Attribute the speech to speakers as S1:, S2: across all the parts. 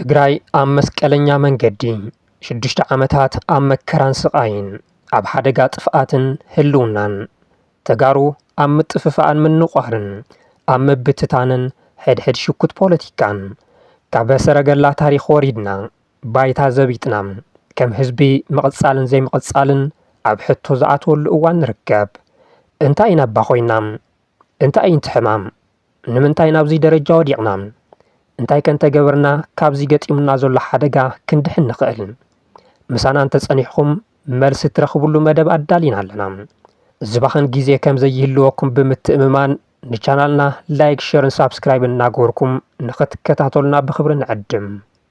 S1: ትግራይ ኣብ መስቀለኛ መንገዲ ሽዱሽተ ዓመታት ኣብ መከራን ስቓይን ኣብ ሓደጋ ጥፍኣትን ህልውናን ተጋሩ ኣብ ምጥፍፋእን ምንቋርን፣ ኣብ ምብትታንን ሕድሕድ ሽኩት ፖለቲካን፣ ካብ ሰረገላ ታሪኽ ወሪድና፣ ባይታ ዘቢጥና፣ ከም ህዝቢ ምቕጻልን ዘይምቕጻልን ኣብ ሕቶ ዝኣትወሉ እዋን ንርከብ። እንታይ ኢና እባ ኮይና? እንታይ እዩ'ቲ ሕማም? ንምንታይ ናብዚ ደረጃ ወዲቕና? እንታይከ እንተገበርና ካብዚ ገጢሙና ዘሎ ሓደጋ ክንድሕን ንኽእል? ምሳና እንተጸኒሕኩም መልሲ እትረኽብሉ መደብ ኣዳሊና ኣለና። ዝባኽን ግዜ ከም ዘይህልወኩም ብምትእምማን ንቻናልና ላይክ፣ ሸርን ሳብስክራይብን እናገበርኩም ንኽትከታተሉና ብኽብሪ ንዕድም።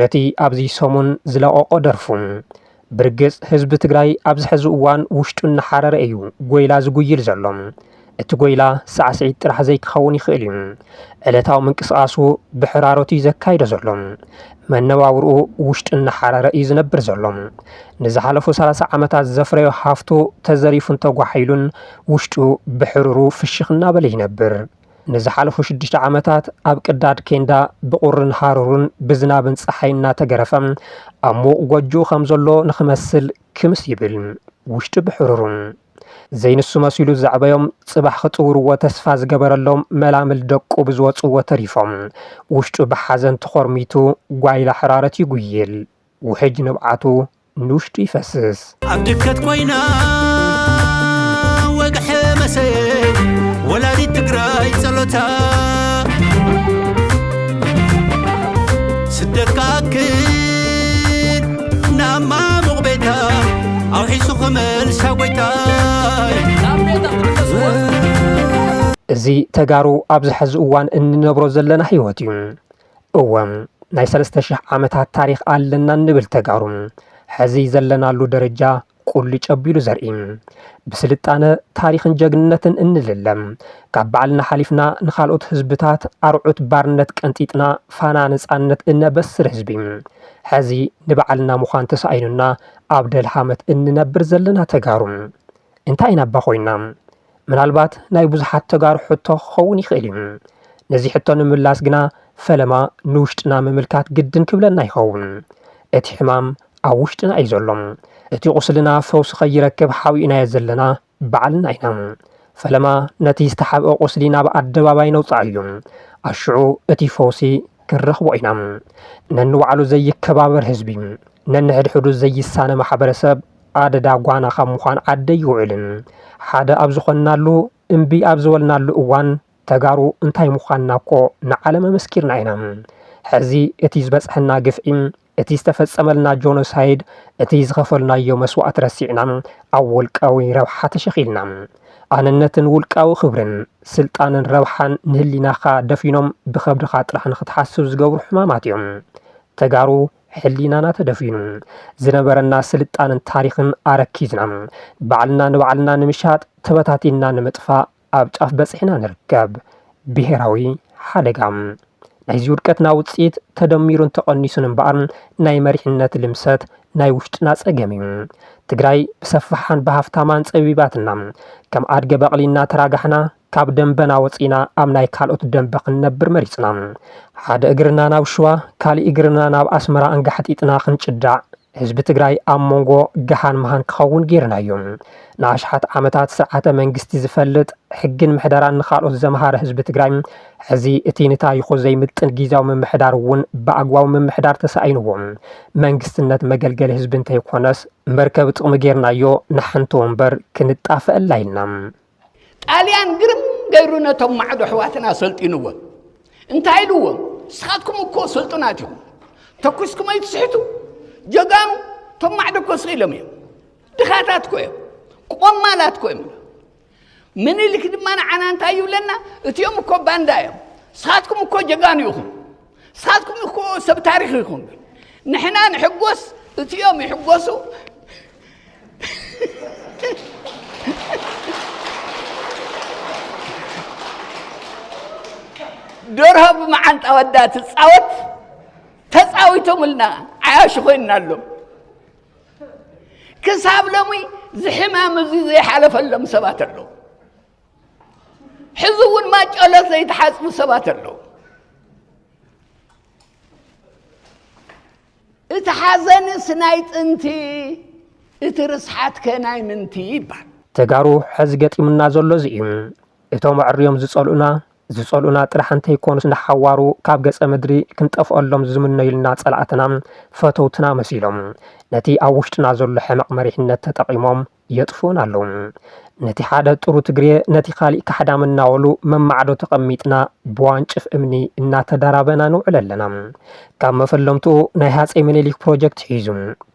S1: ነቲ ኣብዚ ሰሙን ዝለቐቖ ደርፉ ብርግጽ ህዝቢ ትግራይ ኣብዚ ሕዚ እዋን ውሽጡ እናሓረረ እዩ ጎይላ ዝጉይል ዘሎ። እቲ ጎይላ ሳዕስዒት ጥራሕ ዘይክኸውን ይኽእል እዩ። ዕለታዊ ምንቅስቓሱ ብሕራሮት እዩ ዘካይዶ ዘሎ። መነባብርኡ ውሽጡ እናሓረረ እዩ ዝነብር ዘሎ። ንዝሓለፉ ሰላሳ ዓመታት ዘፍረዮ ሃፍቱ ተዘሪፉን ተጓሒሉን ውሽጡ ብሕሩሩ ፍሽኽ እናበለ ይነብር። ንዝሓለፉ ሽዱሽተ ዓመታት ኣብ ቅዳድ ኬንዳ ብቑርን ሃሩርን ብዝናብን ፀሓይ እናተገረፈ ኣብ ምዉቕ ጎጆ ከም ዘሎ ንክመስል ክምስ ይብል ውሽጡ ብሕሩሩን ዘይንሱ መሲሉ ዘዕበዮም ጽባሕ ክጽውርዎ ተስፋ ዝገበረሎም መላምል ደቁ ብዝወጽዎ ተሪፎም ውሽጡ ብሓዘን ተኾርሚቱ ጓይላ ሕራረት ይጉይል ውሕጅ ንብዓቱ ንውሽጡ ይፈስስ። ኣብ ድከት
S2: ኮይና ወግሐ መሰየይ ወላዲት ትግራይ ጸሎታ ስደት ክኣክል ናብ ማሙቕ ቤታ ኣውሒሱ ክመልሳ ጎይታይ
S1: እዚ ተጋሩ ኣብዚ ሕዚ እዋን እንነብሮ ዘለና ህይወት እዩ እወ ናይ ሰለስተ ሽሕ ዓመታት ታሪኽ ኣለና እንብል ተጋሩ ሕዚ ዘለናሉ ደረጃ ቁልጭ ኣቢሉ ዘርኢ ብስልጣነ ታሪኽን ጀግንነትን እንልለም ካብ ባዕልና ሓሊፍና ንካልኦት ህዝብታት ኣርዑት ባርነት ቀንጢጥና ፋና ነፃነት እነበስር ህዝቢ ሕዚ ንባዕልና ምዃን ተሳኢኑና ኣብ ደልሃመት እንነብር ዘለና ተጋሩ እንታይ ኢና እባ ኮይና ምናልባት ናይ ብዙሓት ተጋሩ ሕቶ ክኸውን ይኽእል እዩ። ነዚ ሕቶ ንምላስ ግና ፈለማ ንውሽጥና ምምልካት ግድን ክብለና ይኸውን። እቲ ሕማም ኣብ ውሽጥና እዩ ዘሎ። እቲ ቁስልና ፈውሲ ከይረክብ ሓቢእናዮ ዘለና ባዕልና ኢና። ፈለማ ነቲ ዝተሓብአ ቁስሊ ናብ ኣደባባይ ነውጽኣዮ። ኣሽዑ እቲ ፈውሲ ክንረኽቦ ኢና። ነንባዕሉ ዘይከባበር ህዝቢ፣ ነንሕድሕዱ ዘይሳነ ማሕበረሰብ ኣደዳ ጓና ካብ ምዃን ዓዲ ኣይውዕልን። ሓደ ኣብ ዝኾንናሉ፣ እምቢ ኣብ ዝበልናሉ እዋን ተጋሩ እንታይ ምዃንና እኮ ንዓለም ኣመስኪርና ኢና። ሕዚ እቲ ዝበፅሐና ግፍዒ፣ እቲ ዝተፈፀመልና ጆኖሳይድ፣ እቲ ዝኸፈልናዮ መስዋእቲ ረሲዕና ኣብ ውልቃዊ ረብሓ ተሸኺልና፣ ኣነነትን ውልቃዊ ክብርን፣ ስልጣንን ረብሓን ንህሊናኻ ደፊኖም ብኸብድኻ ጥራሕ ንኽትሓስብ ዝገብሩ ሕማማት እዮም። ተጋሩ ሕሊናና ተደፊኑ፣ ዝነበረና ስልጣነን ታሪኽን ኣረኪዝና፣ ባዕልና ንባዕልና ንምሻጥ፣ ተበታቲንና ንምጥፋእ ኣብ ጫፍ በጺሕና ንርከብ። ብሄራዊ ሓደጋ። ናይዚ ውድቀትና ውጽኢት ተደሚሩን ተቐኒሱን እምበኣር ናይ መሪሕነት ልምሰት ናይ ውሽጥና ጸገም እዩ። ትግራይ ብሰፋሓን ብሃፍታማን ጸቢባትና፣ ከም ኣድገ በቕሊ እናተራጋሕና ካብ ደንበና ወጺእና ኣብ ናይ ካልኦት ደንበ ክንነብር መሪጽና። ሓደ እግርና ናብ ሽዋ ካሊእ እግርና ናብ ኣስመራ ኣንጋሕጢጥና ክንጭዳዕ ህዝቢ ትግራይ ኣብ ሞንጎ ገሃን መሃን ክኸውን ገይርናዮ። ንኣሽሓት ዓመታት ስርዓተ መንግስቲ ዝፈልጥ ሕግን ምሕደራን ንካልኦት ዘምሃረ ህዝቢ ትግራይ ሕዚ እቲ ንታሪኹ ዘይምጥን ጊዜያዊ ምምሕዳር እውን ብኣግባቡ ምምሕዳር ተሳኢንዎ መንግስትነት መገልገሊ ህዝቢ እንተይኮነስ መርከቢ ጥቕሚ ገይርናዮ ንሓንቲ ወንበር ክንጣፈኣላ ኢልና። ጣልያን
S3: ግርም ገይሩ ነቶም ማዕዶ ኣሕዋትና ኣሰልጢንዎም እንታይ ኢልዎም ንስኻትኩም እኮ ስልጡናት ኢኹም ተኩስኩም ኣይትስሕቱ ጀጋኑ እቶም ማዕዶ እኮ ስኺኢሎም እዮም ድኻታት ኮ እዮም ቆማላት ኮ እዮም ምኒልክ ድማ ንዓና እንታይ ይብለና እቲኦም እኮ ባንዳ እዮም ንስኻትኩም እኮ ጀጋኑ ኢኹም ንሳትኩም እኮ ሰብ ታሪክ ይኹም ንሕና ንሕጎስ እትኦም ይሕጎሱ ደርሆ ብመዓንጣ ወዳ ትፃወት ተፃዊቶምልና ዓያሹ ኮይና ኣሎ ክሳብ ሎሚ ዝሕማም እዚ ዘይሓለፈሎም ሰባት ኣለዉ ሕዚ እውን ማጨሎ ዘይተሓፅቡ ሰባት ኣለዉ እቲ ሓዘንስ ናይ ጥንቲ እቲ ርስሓት ከ ናይ ምንቲ ይባል ተጋሩ ሕዚ
S1: ገጢሙና ዘሎ እዚ እዩ እቶም ኣዕርዮም ዝጸልኡና ዝጸልኡና ጥራሕ እንተይኮኑስ ንሓዋሩ ካብ ገጸ ምድሪ ክንጠፍኦሎም ዝምነዩልና ጸላእትና ፈተውትና መሲሎም ነቲ ኣብ ውሽጥና ዘሎ ሕመቕ መሪሕነት ተጠቒሞም የጥፍኡና ኣለዉ። ነቲ ሓደ ጥሩ ትግሬ ነቲ ካሊእ ካሕዳም እናበሉ መማዕዶ ተቐሚጥና ብዋንጭፍ እምኒ እናተዳራበና ንውዕል ኣለና። ካብ መፈለምትኡ ናይ ሃፀይ ምኒሊክ ፕሮጀክት ሒዙ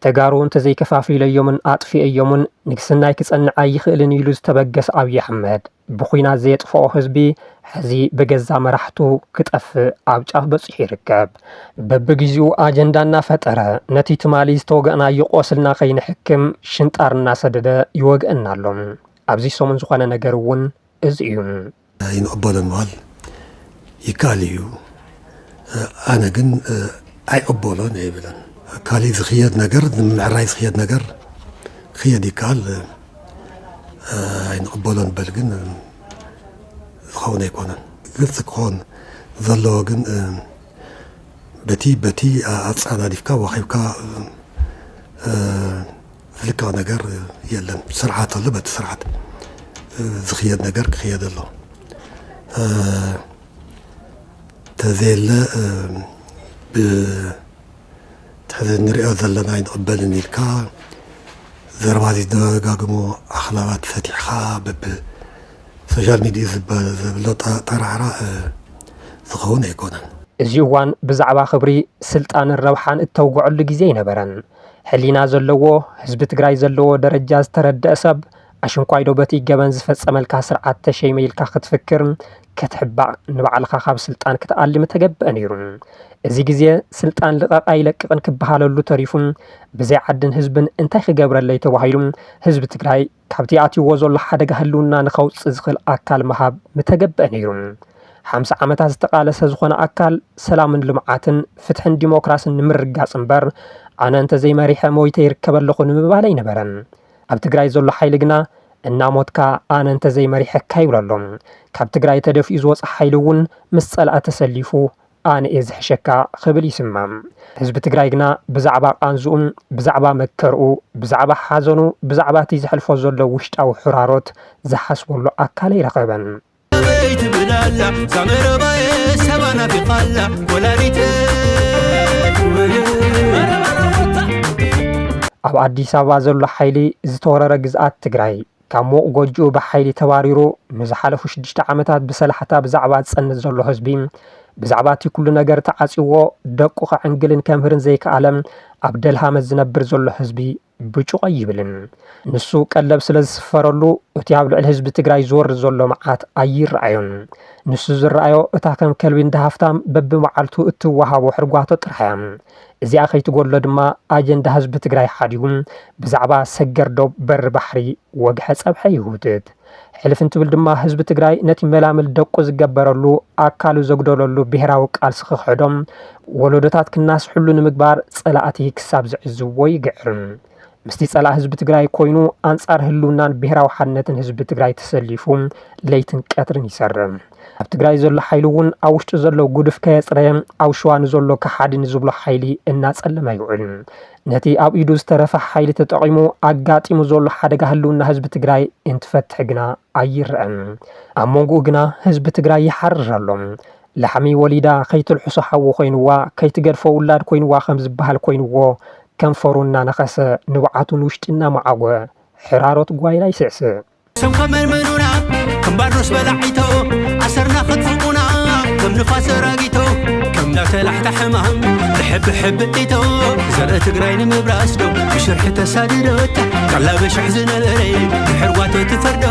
S1: ተጋሩ እንተዘይከፋፊለዮምን ኣጥፊኤዮምን ንግስናይ ክፀንዕ ኣይኽእልን ኢሉ ዝተበገሰ ኣብዪ ኣሕመድ ብኹናት ዘየጥፈኦ ህዝቢ ሕዚ ብገዛ መራሕቱ ክጠፍእ ኣብ ጫፍ በፂሑ ይርከብ። በብግዚኡ ኣጀንዳ እናፈጠረ ነቲ ትማሊ ዝተወገእናዮ ቆስልና ከይንሕክም ሽንጣር እናሰደደ ይወግእና ኣሎ። ኣብዚ ሰሙን ዝኾነ ነገር እውን እዚ እዩ። ኣይንቕበሎን
S4: በሃል። ይካል እዩ ኣነ ግን ኣይቕበሎን እየ ይብለን ካሊእ ዝኽየድ ነገር ንምዕራይ ዝኽየድ ነገር ክየድ ይከኣል ኣይንቕበሎ ንበል ግን ዝኸውን ኣይኮነን ግልፂ ክኾን ዘለዎ ግን በቲ በቲ ኣፃዳዲፍካ ዋኺብካ ዝልከዖ ነገር የለን ስርዓት ኣሎ በቲ ስርዓት ዝኽየድ ነገር ክኽየድ ኣሎ ተዘየለ ብትሕዚ ንሪኦ ዘለና ኣይንቕበልን ኢልካ ዘረባ ዝደጋግሞ ኣኽላባት ፈቲሕኻ በብ ሶሻል ሚዲያ ዝበ- ዘብሎ ጠ- ጠራዕራዕ እ፣ ዝኸውን ኣይኮነን እዚ እዋን
S1: ብዛዕባ ክብሪ፣ ስልጣንን ረብሓን እተውግዐሉ ግዜ ኣይነበረን። ሕሊና ዘለዎ ህዝቢ ትግራይ ዘለዎ ደረጃ ዝተረደእ ሰብ ኣሽንኳይዶ በቲ ገበን ዝፈፀመልካ ስርዓት ተሸይመ ኢልካ ክትፍክር ክትሕባእ ንባዕልኻ ካብ ስልጣን ክትኣሊ ምተገበአ ነይሩ። እዚ ግዜ ስልጣን ልቐቕ ኣይለቅቕን ክበሃለሉ ተሪፉ ብዘይ ዓድን ህዝብን እንታይ ክገብረለይ ተባሂሉ ህዝቢ ትግራይ ካብቲ ኣትዩዎ ዘሎ ሓደጋ ህልውና ንከውፅእ ዝኽእል ኣካል ምሃብ ምተገበኣ ነይሩ። ሓምሳ ዓመታት ዝተቓለሰ ዝኾነ ኣካል ሰላምን ልምዓትን፣ ፍትሕን ዲሞክራስን ንምርግጋፅ እምበር ኣነ እንተዘይመሪሐ ሞይተ ይርከብ ኣለኹ ንምባል ኣይነበረን። ኣብ ትግራይ ዘሎ ሓይሊ ግና እናሞትካ ኣነ እንተዘይመሪሐካ ይብሎ ኣሎ። ካብ ትግራይ ተደፊኡ ዝወፀ ሓይሊ እውን ምስ ፀላኢ ተሰሊፉ ኣነ'የ ዝሕሸካ ክብል ይስማም። ህዝቢ ትግራይ ግና ብዛዕባ ቃንዝኡ፣ ብዛዕባ መከርኡ፣ ብዛዕባ ሓዘኑ፣ ብዛዕባ'ቲ ዘሕልፎ ዘሎ ውሽጣዊ ሕራሮት ዝሓስበሉ ኣካል ኣይረኸበን። ኣበይ ትብል
S2: ኣላ እዛ መረባየ ሰባ ናፊቓ ኣላ ወላዲተይ።
S1: ኣብ ኣዲስ ኣበባ ዘሎ ሓይሊ ዝተወረረ ግዝኣት ትግራይ፣ ካብ ሙቕ ጎጅኡ ብሓይሊ ተባሪሩ ንዝሓለፉ ሽዱሽተ ዓመታት ብሰላሕታ ብዛዕባ ዝጸንት ዘሎ ህዝቢ ብዛዕባ እቲ ኩሉ ነገር ተዓጽዎ ደቁ ከዕንግልን ከምህርን ዘይከኣለ ኣብ ደልሃመት ዝነብር ዘሎ ህዝቢ ብጩቕ ኣይብልን። ንሱ ቀለብ ስለ ዝስፈረሉ እቲ ኣብ ልዕሊ ህዝቢ ትግራይ ዝወርድ ዘሎ መዓት ኣይረኣዮን። ንሱ ዝረኣዮ እታ ከም ከልቢ እንዳ ሃፍታም በብመዓልቱ እትወሃቦ ሕርጓቶ ጥራሕ እያ። እዚኣ ከይትጎድሎ ድማ ኣጀንዳ ህዝቢ ትግራይ ሓዲጉ ብዛዕባ ሰገር ዶብ በሪ ባሕሪ ወግሐ ፀብሐ ይህውትት። ሕልፍ እንትብል ድማ ህዝቢ ትግራይ ነቲ መላምል ደቁ ዝገበረሉ ኣካሉ ዘጉደለሉ ብሄራዊ ቃልሲ ክኽሕዶም ወለዶታት ክናስሕሉ ንምግባር ፀላእቲ ክሳብ ዝዕዝብዎ ይግዕር። ምስቲ ፀላእ ህዝቢ ትግራይ ኮይኑ ኣንፃር ህልውናን ብሄራዊ ሓድነትን ህዝቢ ትግራይ ተሰሊፉ ለይትን ቀትርን ይሰርም። ኣብ ትግራይ ዘሎ ሓይሊ እውን ኣብ ውሽጡ ዘሎ ጉድፍ ከየፅረየ ኣብ ሸዋ ንዘሎ ከሓዲ ንዝብሎ ሓይሊ እናፀለመ ይውዕል። ነቲ ኣብ ኢዱ ዝተረፈ ሓይሊ ተጠቒሙ ኣጋጢሙ ዘሎ ሓደጋ ህልውና ህዝቢ ትግራይ እንትፈትሕ ግና ኣይረኣን ኣብ ሞንጉኡ ግና ህዝቢ ትግራይ ይሓርር ኣሎ። ላሕሚ ወሊዳ ከይትልሕሶ ሓዊ ኮይንዋ ከይትገድፎ ውላድ ኮይንዋ ከም ዝበሃል ኮይንዎ ከንፈሩ እናነኸሰ ንብዓቱ ንውሽጢ እናመዓጐ ሕራሮት ጓይላ ይስዕስዕ። ስም ከመንመኑና
S2: ከም ባርኖስ በላዒቶ ኣሰርና ከጥፍኡና ከም ንፋስ ዘራጊቶ ከም ዳተላሕታ ሕማም ብሕቢ ሕቢ ኢቶ ዘርኢ ትግራይ ንምብራስ ዶ ብሽርሒ ተሳድዶታ ካላ በሽሕ ዝነበረ ብሕርጓተ ትፈርዶ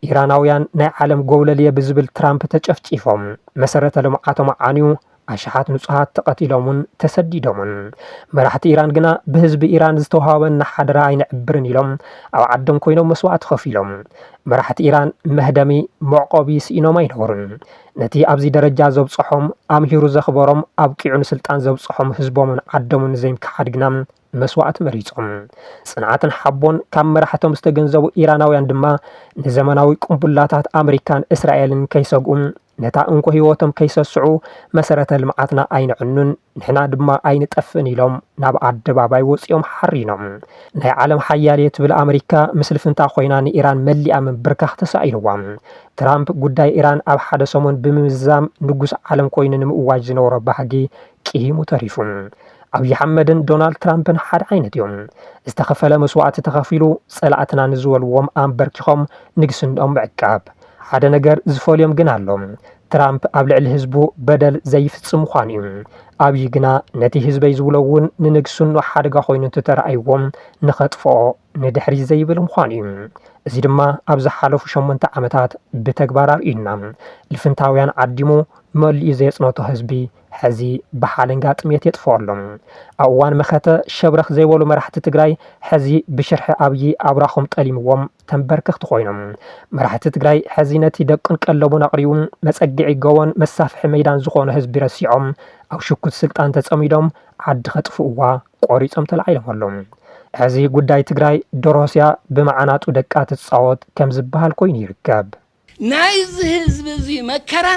S1: ኢራናውያን ናይ ዓለም ጎብለልየ ብዝብል ትራምፕ ተጨፍጪፎም መሰረተ ልምዓቶም ዓንዩ ኣሽሓት ንጹሃት ተቐቲሎምን ተሰዲዶምን መራሕቲ ኢራን ግና ብህዝቢ ኢራን ዝተዋሃበና ሓደራ ኣይንዕብርን ኢሎም ኣብ ዓዶም ኮይኖም መስዋእቲ ከፊሎም መራሕቲ ኢራን መህደሚ መዕቆቢ ስኢኖም ኣይነበሩን ነቲ ኣብዚ ደረጃ ዘብጸሖም፣ ኣምሂሩ ዘኽበሮም፣ ኣብቂዑ ንስልጣን ዘብጸሖም ህዝቦምን ዓዶምን ዘይምክሓድ ግና መስዋእቲ መሪጾም። ጽንዓትን ሓቦን ካብ መራሕቶም ዝተገንዘቡ ኢራናውያን ድማ ንዘመናዊ ቁምቡላታት ኣመሪካን እስራኤልን ከይሰግኡ፣ ነታ እንኮ ህይወቶም ከይሰስዑ መሰረተ ልምዓትና ኣይነዕኑን፣ ንሕና ድማ ኣይንጠፍእን ኢሎም ናብ ኣደባባይ ወጺኦም ሓሪኖም። ናይ ዓለም ሓያል'የ ትብል ኣመሪካ ምስ ልፍንታ ኮይና ንኢራን መሊኣ ምብርካኽ ተሳኢንዋ። ትራምፕ ጉዳይ ኢራን ኣብ ሓደ ሰሙን ብምምዛም ንጉስ ዓለም ኮይኑ ንምእዋጅ ዝነበሮ ባህጊ ቅሂሙ ተሪፉ። ኣብዪ ኣሕመድን ዶናልድ ትራምፕን ሓደ ዓይነት እዮም። ዝተኸፈለ መስዋእቲ ተኸፊሉ ጸላእትና ንዝበልዎም ኣምበርኪኾም ንግስንኦም ምዕቃብ። ሓደ ነገር ዝፈልዮም ግን ኣሎ። ትራምፕ ኣብ ልዕሊ ህዝቡ በደል ዘይፍጽም ምዃኑ እዩ። ኣብዪ ግና ነቲ ህዝበይ ዝብሎ እውን ንንግስንኡ ሓደጋ ኮይኑ እንተተራእይዎ ንኸጥፍኦ ንድሕሪት ዘይብል ምዃኑ እዩ። እዚ ድማ ኣብ ዝሓለፉ ሸሞንተ ዓመታት ብተግባር ኣርእዩና። ልፍንታውያን ዓዲሙ መሊኡ ዘየጽነቶ ህዝቢ ሕዚ ብሓለንጋ ጥምየት የጥፍኦ ኣሎ። ኣብ እዋን መኸተ ሸብረኽ ዘይበሉ መራሕቲ ትግራይ ሕዚ ብሽርሒ ኣብዪ ኣብራኾም ጠሊምዎም ተምበርከኽቲ ኮይኖም። መራሕቲ ትግራይ ሕዚ ነቲ ደቁን ቀለቡን ኣቕሪቡ መፀግዒ ጎቦን መሳፍሒ መይዳን ዝኾኖ ህዝቢ ረሲዖም ኣብ ሽኩት ስልጣን ተፀሚዶም ዓዲ ከጥፍእዋ ቆሪፆም ተላዒሎም ኣለው። ሕዚ ጉዳይ ትግራይ ዶርሆስያ ብመዓናጡ ደቃ ትፃወት ከምዝበሃል ኮይኑ ይርከብ። ናይዚ
S3: ህዝቢ እዚ መከራ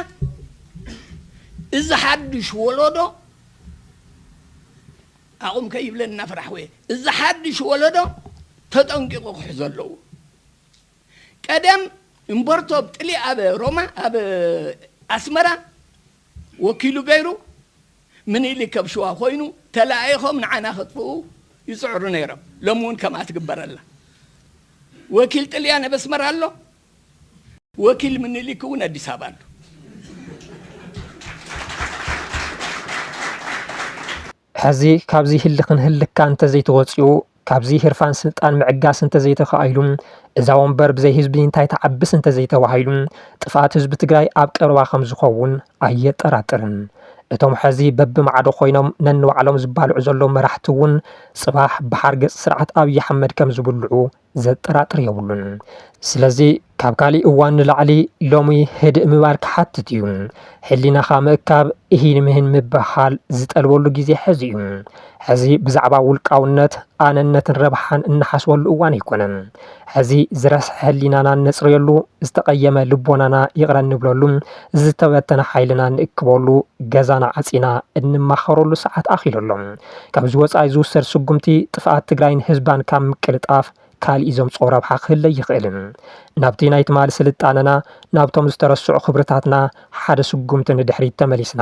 S3: እዚ ሓዱሽ ወለዶ ኣቑም ከይብለን እናፈራሕኩ እየ እዚ ሓዱሽ ወለዶ ተጠንቂቑ ክሕዞ ኣለዎ ቀደም እምበርቶ ኣብ ጥሊ ኣብ ሮማ ኣብ ኣስመራ ወኪሉ ገይሩ ምኒልክ ኣብ ሽዋ ኮይኑ ተለኣኢኾም ንዓና ከጥፍኡ ይፅዕሩ ነይሮም ሎሚ እውን ከምኣ ትግበረላ ወኪል ጥልያን ኣብ ኣስመራ ኣሎ ወኪል ምኒሊክ እውን ኣዲስ ኣበባ ኣሎ።
S1: ሕዚ ካብዚ ህልኽን ህልካን እንተዘይተወፂኡ፣ ካብዚ ህርፋን ስልጣን ምዕጋስ እንተዘይተኻኢሉ፣ እዛ ወንበር ብዘይ ህዝቢ እንታይ ትዓብስ እንተዘይተባሂሉ፣ ጥፍኣት ህዝቢ ትግራይ ኣብ ቀረባ ከምዝኸውን ኣየጠራጥርን። እቶም ሕዚ በብማዕዶ ኮይኖም ነንባዕሎም ዝባልዑ ዘለዉ መራሕቲ እውን ፅባሕ ብሓርገፅ ስርዓት ኣብዪ ኣሕመድ ከምዝብልዑ ዘጠራጥር የብሉን። ስለዚ ካብ ካሊእ እዋን ንላዕሊ ሎሚ ህድእ ምባል ክሓትት እዩ። ሕሊናኻ ምእካብ፣ እሂን ምሂን ምብህሃል ዝጠልበሉ ግዜ ሕዚ እዩ። ሕዚ ብዛዕባ ውልቃውነት፣ ኣነነትን ረብሓን እንሓስበሉ እዋን ኣይኮነን። ሕዚ ዝረስሐ ሕሊናና እነጽርየሉ፣ ዝተቐየመ ልቦናና ይቕረ እንብለሉ፣ ዝተበተነ ሓይልና እንእክበሉ፣ ገዛና ዓጺና እንማኸረሉ ሰዓት ኣኺሉ ኣሎ። ካብዚ ወፃኢ ዝውሰድ ስጉምቲ ጥፍኣት ትግራይን ህዝባን ካብ ምቅልጣፍ ካሊእ ዘምፅኦ ረብሓ ክህለ ኣይኽእልን። ናብቲ ናይ ትማሊ ስልጣነና፣ ናብቶም ዝተረስዑ ክብርታትና ሓደ ስጉምቲ ንድሕሪት ተመሊስና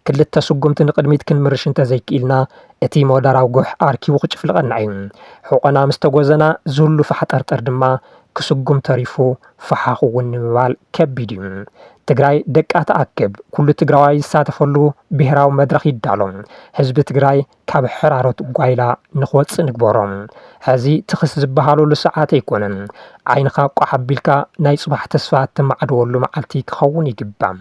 S1: ክልተ ስጉምቲ ንቕድሚት ክንምርሽ እንተዘይክኢልና እቲ ሞደራዊ ጉሕ ኣርኪቡ ክጭፍልቐና እዩ። ሑቖና ምስተጎዘና ዝህሉ ፋሕጠርጠር ድማ ክስጉም ተሪፉ ፋሓኽ እውን ንምባል ከቢድ እዩ። ትግራይ ደቃ ትኣክብ፣ ኩሉ ትግራዋይ ዝሳተፈሉ ብሄራዊ መድረኽ ይዳሎ፣ ህዝቢ ትግራይ ካብ ሕራረት ጓይላ ንክወፅእ ንግበሮ። ሐዚ ትኽስ ዝብሃለሉ ሰዓት ኣይኮነን። ዓይንኻ ቋሕ ኣቢልካ ናይ ፅባሕ ተስፋ እተማዕድወሉ መዓልቲ ክኸውን ይግባእ።